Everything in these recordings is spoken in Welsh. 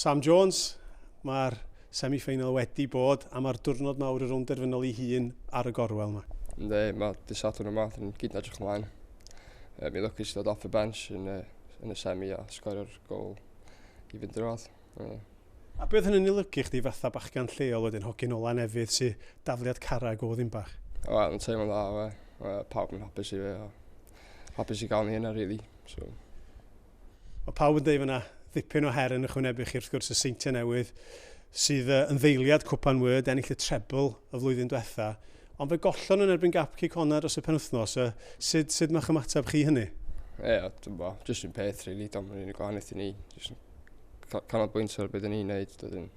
Sam Jones, Mae'r semi-ffeinal wedi bod a mae'r diwrnod mawr yr ymderfynol ei hun ar y gorwel yma. Ynddi, mae dydd Sadwrn yma, dyn ni'n gyd yn edrych ymlaen. Um, I lwcus i ddod off y bench yn y, yn y semi a sgorio'r gol i fynd i'r wad. Uh, A beth hynny'n ei lygu chdi fatha bachgan lleol wedyn, hogyn ola nefydd sy'n dafliad carreg o ddim bach? Wel, yn teimlo'n dda, we. Uh, pawb yn hapus i fe, a hapus i gael ni yna, really. So, Mae pawb yn dweud fod yna ddipyn o her yn ychwanebu chi, wrth gwrs, y seintiau newydd, sydd yn ddeiliad cwpan wyrd, ennill y trebl y flwyddyn diwetha. Ond fe gollon yn erbyn gap cic honna dros y penwthnos. Uh, sut, sut mae'ch ymateb chi hynny? Ie, yeah, dwi'n bo. Jyst yn peth, really. Dwi'n mynd i'n gwahaniaeth i ni. Jyst canolbwyntio ar beth ni'n neud. Dwi'n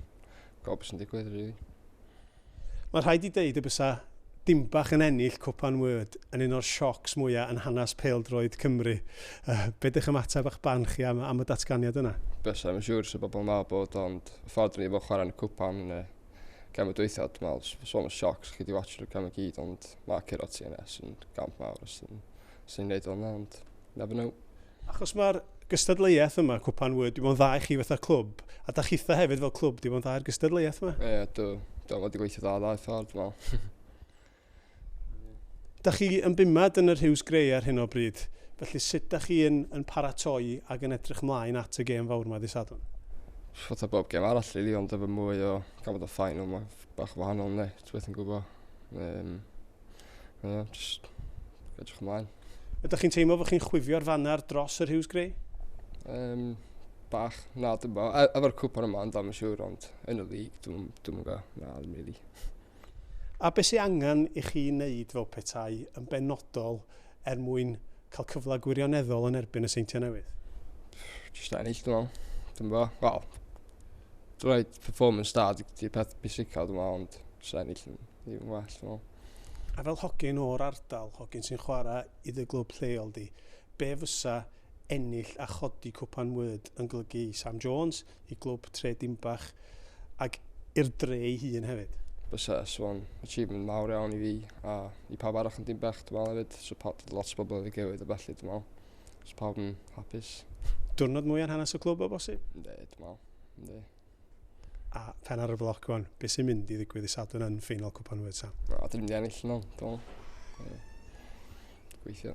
gwybod beth sy'n digwydd, really. Mae'n rhaid i ddeud y bysa Dimbach yn ennill Cwpan Word yn un o'r siocs mwya yn hanes pêl-droed Cymru. Be dych ymateb a'ch barn chi am, am y datganiad yna? Bysa, mae'n siŵr sa bobl yn meddwl bod ond ffodr ni fod chwarae'n y Cwpan yn y gem y dwytha, dwi'n meddwl, so sôn o siocs, chi di watch o'r gem y gyd, ond mae Ciro TNS yn gamp mawr os sy'n gwneud o'n ond never know. Achos mae'r gystadleuaeth yma, Cwpan Wŷr, dim ond dda i chi fatha clwb, a da chitha hefyd fel clwb, dim ond dda i'r gystadleuaeth yma. Ie, yeah, do. Do, mae wedi gweithio dda dda i ffordd, wel. da chi yn bumad yn yr Hughes Grey ar hyn o bryd, felly sut da chi yn, yn paratoi ac yn edrych mlaen at y gêm fawr yma ddi sadwn? Fatha bob gêm arall, really, ond efo mwy o gafodd o ffain, ond mae bach wahanol, ne, ti'n beth yn gwybod. Um, Ie, yeah, just edrych ymlaen. Ydych chi'n teimlo fod chi'n chwifio'r fanner dros yr Hughes Grey? Um, bach, na, dim bo. E, efo'r cwpan yma, ond am y siwr, ond yn y lig, dwi'n yn go, na, ddim really. A beth sy'n angen i chi wneud fel petai yn benodol er mwyn cael cyfle gwirioneddol yn erbyn y Seintiau Newydd? Just ennill, dwi'n meddwl. Dim bo, wel, dwi'n rhaid Performance da, di peth pwysicaf dwi'n meddwl, ond sy'n ennill yn ddim well, dwi'n meddwl. A fel hogyn o'r ardal, hogyn sy'n chwarae i dy glwb lleol di, be fysa ennill a chodi cwpan wyd yn golygu i Sam Jones, i glwb Tre Dimbach, ac i'r dre ei hun hefyd? Bysa, so'n achievement mawr iawn i fi, a i pawb arall yn Dimbach, dwi'n meddwl hefyd, so pa, lot o bobl yn y gewyd a felly, dwi'n meddwl, so pawb yn hapus. Diwrnod mwy ar hanes y clwb o bosib? Ne, dwi'n meddwl. Ynddi. A pen ar y bloc wan, beth sy'n mynd i ddigwydd i Sadwrn yn ffeinal Cwpan Wyd Sam? A dyn ni'n ennill nhw, dwi'n Gweithio.